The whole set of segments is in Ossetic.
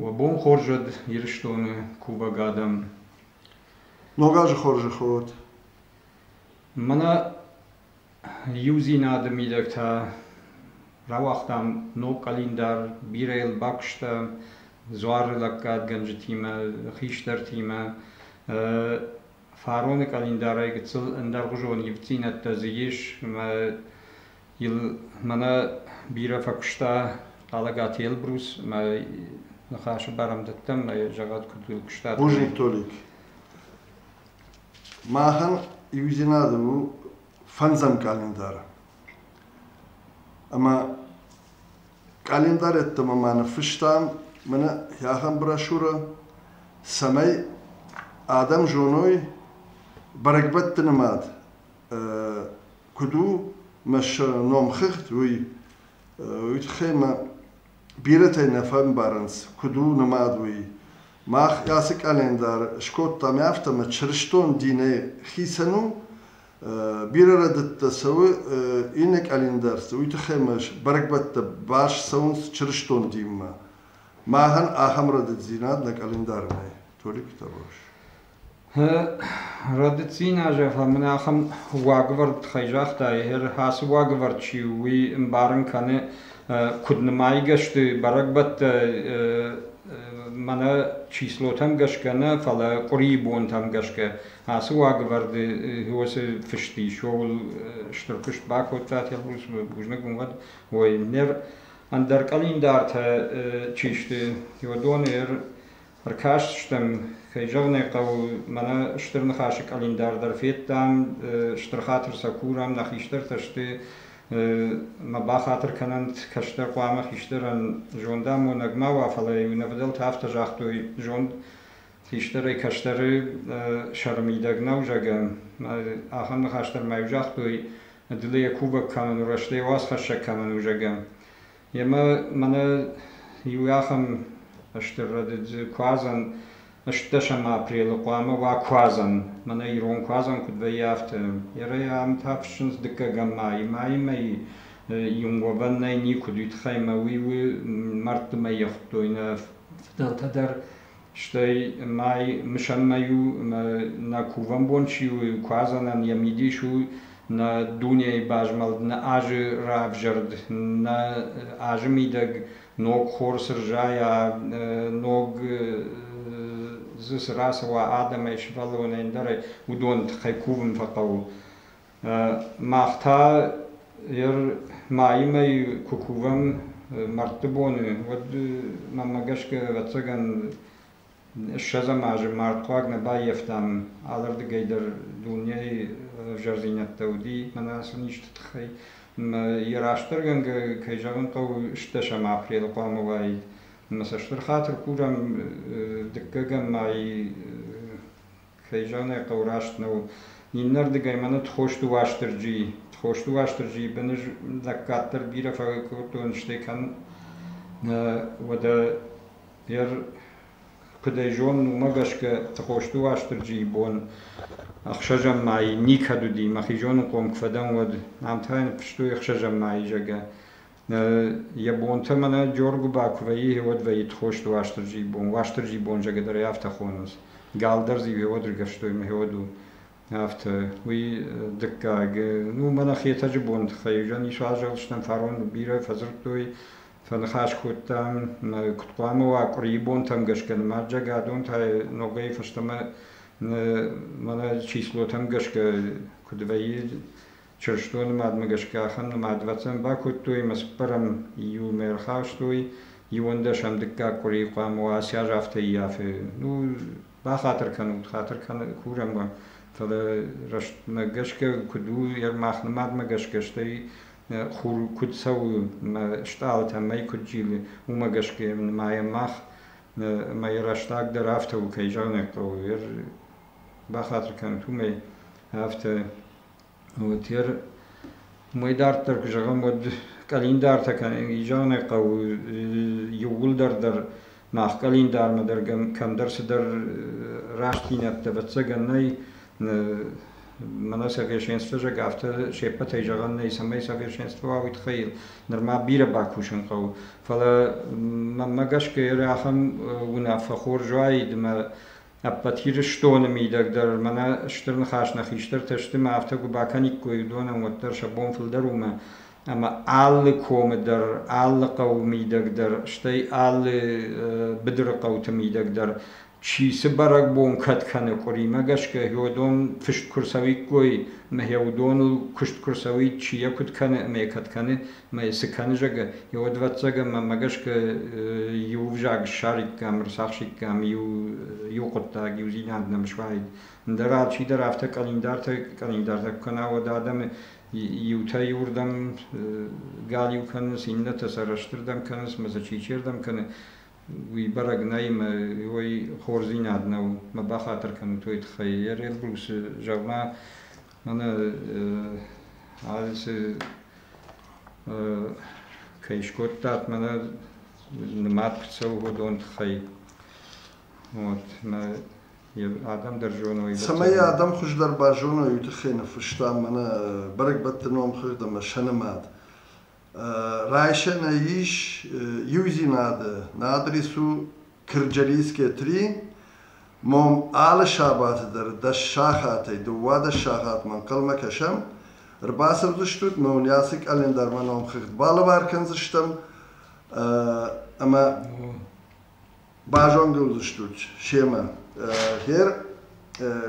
Уӕ бон хорз уӕд Ирыстоны кувӕг адӕм! Ног азы хорзӕх уӕд! Мӕнӕ иудзинады мидӕгтӕ рауагътам ног къӕлиндар, бирӕ йыл бакуыста дзуары лӕггадгӕнджытимӕ, хистӕртимӕ. Фароны къӕлиндарӕй гыццыл ӕндӕргъуызон ивддзинӕдтӕ дзы ис ӕмӕ Йыл мӕнӕ бирӕ фӕкуыста Хъалӕгаты Елбрус мӕ ныхасы барӕмдӕттӕм мӕ зӕгъӕд куыд у куыста. Божий Толик. Махӕн иудзинадӕн у фӕндзӕм къалендар. Ӕмӕ къалендар ӕддӕмӕ ма ныффыстам мӕнӕ ахӕм брошюрӕ, цӕмӕй адӕм зоной бӕрӕгбӕтты нымад куд у мӕ номхыгъд, уый. Уый тыххӕй мӕ бирӕтӕй нӕ фӕмбарынц, куыд у нымад, уый. Мах ацы къӕлиндар скодтам, афтӕ мӕ чырыстон динӕй хицӕн у. Бирӕ рӕдыдтӕ цӕуы иннӕ къӕлиндӕрты, уый тыххӕй мӕ бӕрӕгбӕттӕ баст цӕуынц чырыстон динмӕ. Махӕн ахӕм рӕдыддзинад нӕ къӕлиндары нӕй. Толик Табош. Рады цъина, зӕгъӕм, мын ахӕм уагӕвӕрд тыххӕй загътай, ацы уагӕвӕрд чи у, уый ӕмбарын кӕны, куыд нымайгӕ сты бӕрӕгбӕттӕ мӕнӕ числотӕм гӕсгӕ нӕ, фӕлӕ къуырийы бонтӕм гӕсгӕ. Ацы уагӕвӕрды уыцы фыст ис, ууыл стыр куыст бакодта Телбрусы бузныг уын уӕд, уой ныр. Ӕндӕр къӕлиндартӕ чи сты, уыдон ӕр Ӕркастыстӕм, кӕй зӕгъын ӕй хъӕуы, мӕнӕ Стыр Ныхасы къӕлиндар дӕр федтам, стыр хатыр сӕ курӕм, нӕ хистӕртӕ сты мӕ бахатыр кӕнӕнт, кӕстӕр хъуамӕ хистӕрӕн зондамонӕг ма уа, фӕлӕ-иу нӕ фыдӕлтӕ афтӕ загътой, зонд хистӕрӕй кӕстӕры сӕры мидӕг нӕу, зӕгъгӕ. Ахӕм ныхас дӕр ма-иу загътой, дыл ӕй кувӕг кӕнын у, рӕстӕй уацхӕссӕг кӕмӕн у, зӕгъгӕ. Йемӕ мӕнӕ иу ахӕм стыр рӕдыд куадзӕн, ӕстдӕсӕм апрелы хъуамӕ уа куадзӕн. Мӕнӕ ирон куадзӕн куыд вӕййы афтӕ. Ерӕй ам та фыссынц дыккӕгӕм майы. Майы мӕйы иу уӕвӕн нӕй никуыд уый тыххӕй мӕ уый у мӕрдты мӕй йӕ хуыдтой нӕ фыдӕлтӕ дӕр. Стӕй мӕй мысӕнмӕ иу нӕ кувӕнбон чи у, куадзӕнӕн йӕ мидис у нӕ дунейы базмӕлд, нӕ азы равзӕрд, нӕ азы мидӕг ног хор цы рзайа, ног дзы цы рацӕуа адӕмӕй, сывӕллонӕй ӕндӕрӕй, уыдон тыххӕй кувын фӕхъӕуы. Мах та ер майимӕ куы кувӕм мӕрдты боны, уӕд мӕнмӕ гӕсгӕ, ӕвӕццӕгӕн, ссӕдзӕм азы мӕрдхъуаг нӕ баййӕфтам, алырдыгӕй дӕр дунейы ӕвзӕрдзинӕдтӕ уыди мӕнӕ ацы низты тыххӕй. Йӕ растдӕргӕнгӕ кӕй зӕгъын хъӕуы, сдӕсӕм апрелы хъуамӕ уаид. Ӕмӕ сӕ стыр хатыр курӕм дыккӕгӕм майы Цӕй зӕнӕй хъӕу раст нӕу. Иннӕрдыгӕй мӕ ныд Хосты Уастырджийы. Хосты Уастырджийы быны лӕг кӕддӕр бирӕ фӕгӕй кодтон, стӕй кӕн нӕ, уӕдӕ йӕр куыд ӕй зонын, уымӕ гӕсгӕ Хосты Уастырджийы бон ӕхсӕзӕм мӕйы никӕд уыди, мӕхи зонынхъом куы фӕдӕн, уӕд. Ам та йын фыстой ӕхсӕзӕм мӕйы, зӕгъгӕ. Йӕ бонтӕ мӕнӕ Джоргуыба куы вӕййы, уӕд вӕййыд хост Уастырджийы бон. Уастырджийы бон зӕгӕдӕрӕй афтӕ хонынц. Галдӕр дзы иу гьод ргӕвстой мӕ гьод у. Афтӕ. Уый дыккаг. Ну, мӕнӕ Хетӕджы бон тыххӕй уызӕн ис азӕлстӕн, фарон бирӕ фӕдзырдтой, фӕныхас кодтам. Куыд хъуамӕ уа къуырийы бонтӕм гӕсгӕ нымадзӕг адон та ногӕй фӕстӕмӕ мӕнӕ числотӕм гӕсгӕ куыд вӕййы чырыстон нымадмӕ гӕсгӕ ахӕм нымадвӕцӕн бакодтой ӕмӕ цыппӕрӕм июлмӕ ӕрхастой иуӕндӕсӕм дыккаг къуырийы хъуамӕ уа ацы аз афтӕ ййафы ну бахатыр кӕнут хатыр кӕны курӕм уӕ фӕлӕ рӕстмӕ гӕсгӕ куыд у йӕ мах нымадмӕ гӕсгӕ стӕй хур куыд цӕуы мӕ стъалытӕ мӕй куыд зилы уымӕ гӕсгӕ нымайӕм мах ӕмӕ йӕ рӕстаг дӕр афтӕ у кӕй зӕгъын ӕй хъӕуы бахатыр кӕнут уымӕй афтӕ Уотер уой дарддӕр ку зӕгъӕм, уӕд къӕлиндартӕ изӕнӕй хъӕуй еууилдӕр дӕр мах къӕлиндармӕ дӕр кӕмдӕр цидӕр рӕстдзийнӕдтӕ, ӕвӕццӕгӕн нӕй. Мӕнӕ совершенствӕзӕг афтӕ се ппӕтӕй зӕгъӕн нӕй, цӕмӕй совершенство уа, уой туххӕй нурма бирӕ бакусын хъӕуы. Фӕлӕ мӕнмӕ гӕсгӕ ацӕм унаффӕ хорз уаид ӕмӕ Ӕппӕт Ирыстоны мидӕг дӕр, мӕнӕ стыр ныхас, нӕ хистӕртӕ сты мӕ афтӕ куы бакӕниккой уыдонӕн, уӕддӕр сӕ бон фылдӕр у мӕ ӕмӕ алы комы дӕр, алы хъӕуы мидӕг дӕр, стӕй алы быдыры хъӕуты мидӕг дӕр чи цы бӕрӕгбон кӕд кӕны, къуыримӕ гӕсгӕ уыдон фыст куы рцӕуиккой, мӕ уыдоныл куыст куы рцӕуид, чи йӕ куыд кӕны ӕмӕ йӕ кӕд кӕны, Мӕ цы кӕны, зӕгӕ, уӕд ӕвӕццӕгӕн мӕмӕ гӕсгӕ иу ӕвзаг ссариккам, ӕрцахсиккам, иу, иу хъуыддаг, иу зинад нӕм суаид. Ӕндӕр алчидӕр афтӕ къӕлиндартӕ къӕлиндартӕ куы кӕна, уӕд адӕмы иутӕ иуырдӕм галиу кӕнынц, иннӕтӕ сӕ рӕстырдӕм кӕнынц, мӕ сӕ чичердӕм кӕны. Уый бӕрӕг нӕй, мӕ уой хорздзинад нӕу, мӕ бахатыр кӕнут уой тыххӕй. Я Red Blue-сы зӕгъ-ма, Мӕнӕ алчи кӕй скодтат, мӕнӕ нымад цӕуы уыдон тыххӕй. Вот, мӕ адӕм дӕр зоной. Цӕмӕй адӕм хуыздӕр базоной, уый тыххӕй ныффыста мӕнӕ бӕрӕгбӕтты номхыгъд ӕмӕ сӕ нымад. райсӕнӕй ис иудзинады, на адрес у Кырджалийские три. Мом алы сабаты дӕр дӕс сахатӕй, дыууадӕс сахатмӕ ӕнхъӕлмӕ кӕсӕм. Ӕрбацӕудзыстут, мӕ уыййацы календармӕ номхыгъд балӕвар кӕндзыстӕм. Ӕмӕ Базонгӕ уыдзыстут семӕ, гъер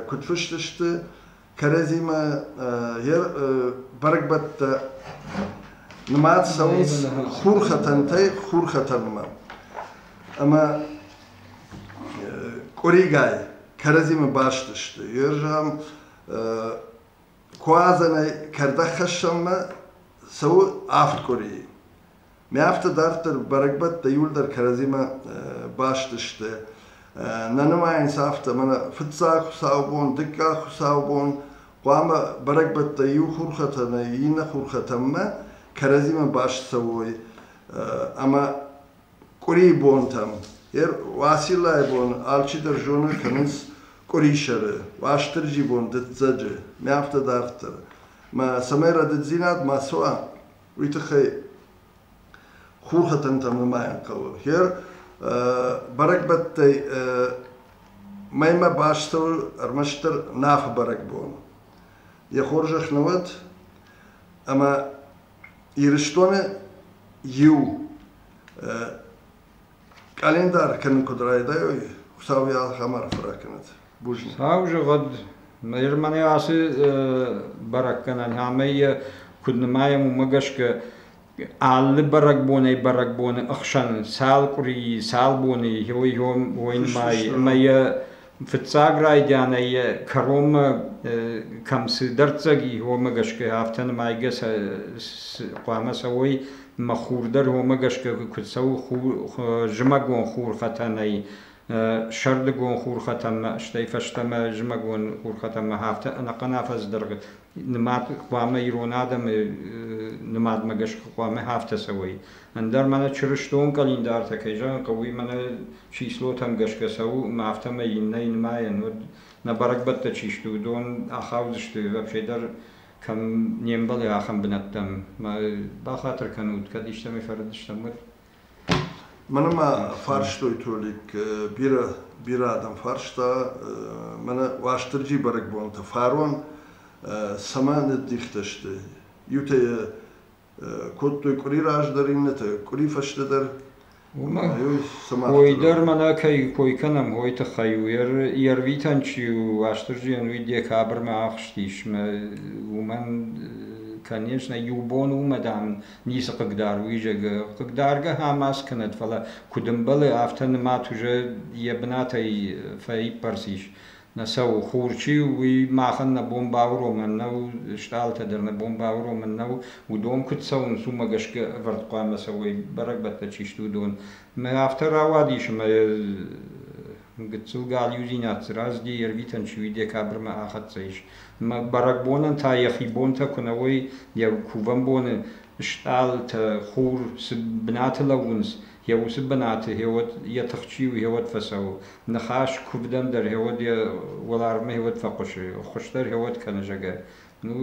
куыд фыст сты кӕрӕдзимӕ, гъер бӕрӕгбӕттӕ нымад цӕуынц хурхӕтӕнтӕй хурхӕтӕнмӕ. Ӕмӕ къуыригай кӕрӕдзимӕ баст сты. Гъер зӕгъӕм, куадзӕнӕй кӕрдӕгхӕссӕнмӕ цӕуы авд къуырийы. Мӕ афтӕ дарддӕр бӕрӕгбӕттӕ иуылдӕр кӕрӕдзимӕ баст сты. Нӕ нымайынц афтӕ, мӕнӕ фыццаг хуыцаубон, дыккаг хуыцаубон, хъуамӕ бӕрӕгбӕттӕ иу хурхӕтӕн, иннӕ хурхӕтӕнмӕ кӕрӕдзимӕ баст цӕуой. Ӕмӕ къуырийы бонтӕм, Уациллайы бон алчидӕр зоны, кӕнынц къуырисӕры, Уастырджи бон, дыццӕджы. Мӕ афтӕ дарддӕр. Мӕ цӕмӕй рӕдыддзинад ма цӕуа, уый тыххӕй хурхӕтӕнтӕ нымайын хъӕуы. Хер бӕрӕгбӕттӕй мӕймӕ бӕстыл ӕрмӕстдӕр Нафы бӕрӕгбон йӕ хорзӕх нӕ уӕд, ӕмӕ Ирыстоны иу Къӕлиндар кӕнын куыд райдайой, Хуыцау йӕ ахӕм арфӕ ракӕнӕд. Бузныг. Цау зӕгъӕд, Ирмӕнӕ ацы бӕрӕггӕнӕн ӕмӕ йӕ куыд нымайӕм, уымӕ гӕсгӕ алы бӕрӕгбонӕй бӕрӕгбоны ӕхсӕн цал къуырийы, цал боны йой уойнымайы ӕмӕ йӕ Фыццаг райдианӕй йӕ кӕронмӕ кӕм цы дӕрддзӕг и, уомӕ гӕсгӕ, афтӕ нымайгӕ сӕ хъуамӕ цӕуой ӕмӕ хур дӕр уомӕ гӕсгӕ куы цӕуы зымӕгон хурхӕтӕнӕй, сӕрдыгон хурхӕтӕнмӕ, стӕй фӕстӕмӕ зымӕгон хурхӕтӕнмӕ, афтӕ ӕнӕхъӕн афӕдз дӕргъы нымад хъуамӕ ирон адӕмы нымадмӕ гӕсгӕ хъуамӕ афтӕ цӕуой. Ӕндӕр мӕнӕ чырыстон къӕлиндартӕ кӕй зӕгъын хъӕуы, мӕнӕ числотӕм гӕсгӕ цӕуы, ӕмӕ афтӕмӕй иннӕйы нымайӕн, уӕд нӕ бӕрӕгбӕттӕ чи сты, уыдон ахаудзысты, вообще дӕр кӕм не мбӕлы, ахӕм бынӕттӕм. Ма бахатыр кӕнут, кӕд истӕмӕй фӕрыд стӕм, уӕд. Мӕнӕ ма фарстой Толик бирӕ, бирӕ адӕм фарста мӕнӕ Уастырджи бӕрӕгбонты фарон цӕмӕ ныддихтӕ сты. Иутӕ йӕ кодтой къуыри раздӕр, иннӕтӕ къуыри фӕстӕдӕр. Уый дӕр мӕнӕ кӕй кой кӕнӕм, уый тыххӕй у. Йе рвитӕн чи у, Уастырджийӕн уый декабрьмӕ ахызтис. Уымӕн, конечно, иу бон у, мадам, ницы хъыгдар у изӕгы. Хъыгдаргӕ ӕмӕ скӕнӕд, фӕлӕ куыд ӕмбӕлы, афтӕ нымӕт уже йӕ бынатӕй фӕиппӕрс ис. Нӕ сӕу хур чи у, уый махӕн нӕ бон бауромӕн нӕу, стъалытӕ дӕр нӕ бон бауромӕн нӕу. Уыдон куыд цӕуынц, уымӕ гӕсгӕ ӕвӕрд хъуамӕ цӕуой, бӕрӕгбӕттӕ чи сты, уыдон. Мӕ афтӕ рауадис, ӕмӕ Гыццыл галиудзинад сырӕзти, йе рвитӕн чи уи декабрьмӕ ахӕццӕ ис. Бӕрӕгбонӕн та йӕхи бонтӕ куы нӕ уой, йӕ кувӕн боны стъалытӕ, хур цы бынаты лӕууынц, йӕ уыцы бынаты гьеуӕд йӕ тых чи у, гьеуӕд фӕцӕуы. Ныхас куывдӕн дӕр гьеуӕд йӕ уӕларвмӕ гьеуӕд фӕхъуысы, хуыздӕр гьеуӕд кӕны зӕгӕ. Ну,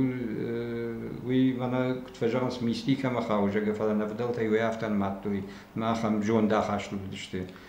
уый мӕнӕ куыд фӕзӕгъынц, мистикӕмӕ хауы, зӕгӕ, фӕлӕ нӕ фыдӕлтӕй уӕ афтӕ нымадтой, мах ам зондахасты уыдысты.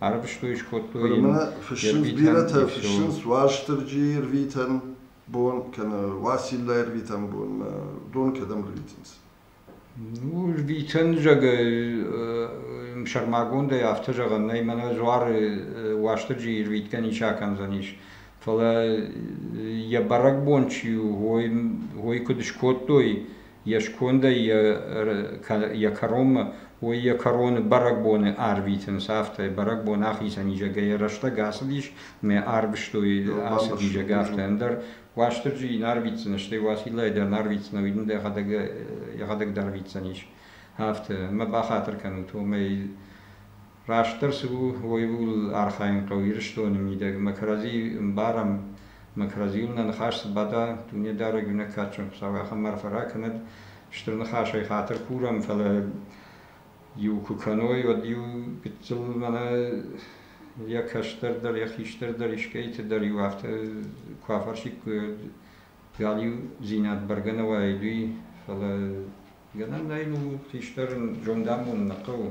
ӕрвыстой, скодтой йын фыссынц бирӕтӕ, фыссынц Уастырджийы рвитӕн бон, кӕнӕ Уациллайы рвитӕн бонмӕ, дон кӕдӕм рвитынц? Ну, рвитӕн, зӕгъы, сӕрмагондӕй афтӕ зӕгъӕн нӕй, мӕнӕ дзуары Уастырджийы рвитгӕ ничи акӕндзӕнис. Фӕлӕ йӕ бӕрӕгбон чи у, ой, куыд скодтой, йе скондӕй йӕ кӕронмӕ, уый йӕ кӕроны бӕрӕгбоны арвитынц, афтӕ бӕрӕгбон ахицӕн изӕрӕй рӕстӕг ацыдис, ме арвыстой ацы изӕры афтӕ ӕндӕр. Уастырджи йын арвитдзӕн, стӕй Уациллайы дӕр нӕ арвитдзӕн, ӕви дын дӕхӕдӕг йӕхӕдӕг дӕр арвитдзӕнис. Афтӕ, мӕ бахатыр кӕнут, уымӕй Растдӕр цы у, уый ууыл архайын хъӕуы Ирыстоны мидӕг. Мӕ кӕрӕдзийы ӕмбарӕм, мӕ кӕрӕдзийыл нӕ ныхас цы бада, Дунедарӕг иунӕг кадджын Хуыцау ахӕм арфӕ ракӕнӕд, стыр ныхасӕй хатыр курӕм, фӕлӕ иу куы кӕной, уӕд-иу гыццыл мӕнӕ йӕ кӕстӕр дӕр, йӕ хистӕр дӕр, искӕйты дӕр-иу афтӕ куы афӕрсиккой, галиудзинад бӕргӕ нӕ уаид, уый, фӕлӕ гӕнӕн нӕй, ну, хистӕр зондамонд нӕ хъӕуы,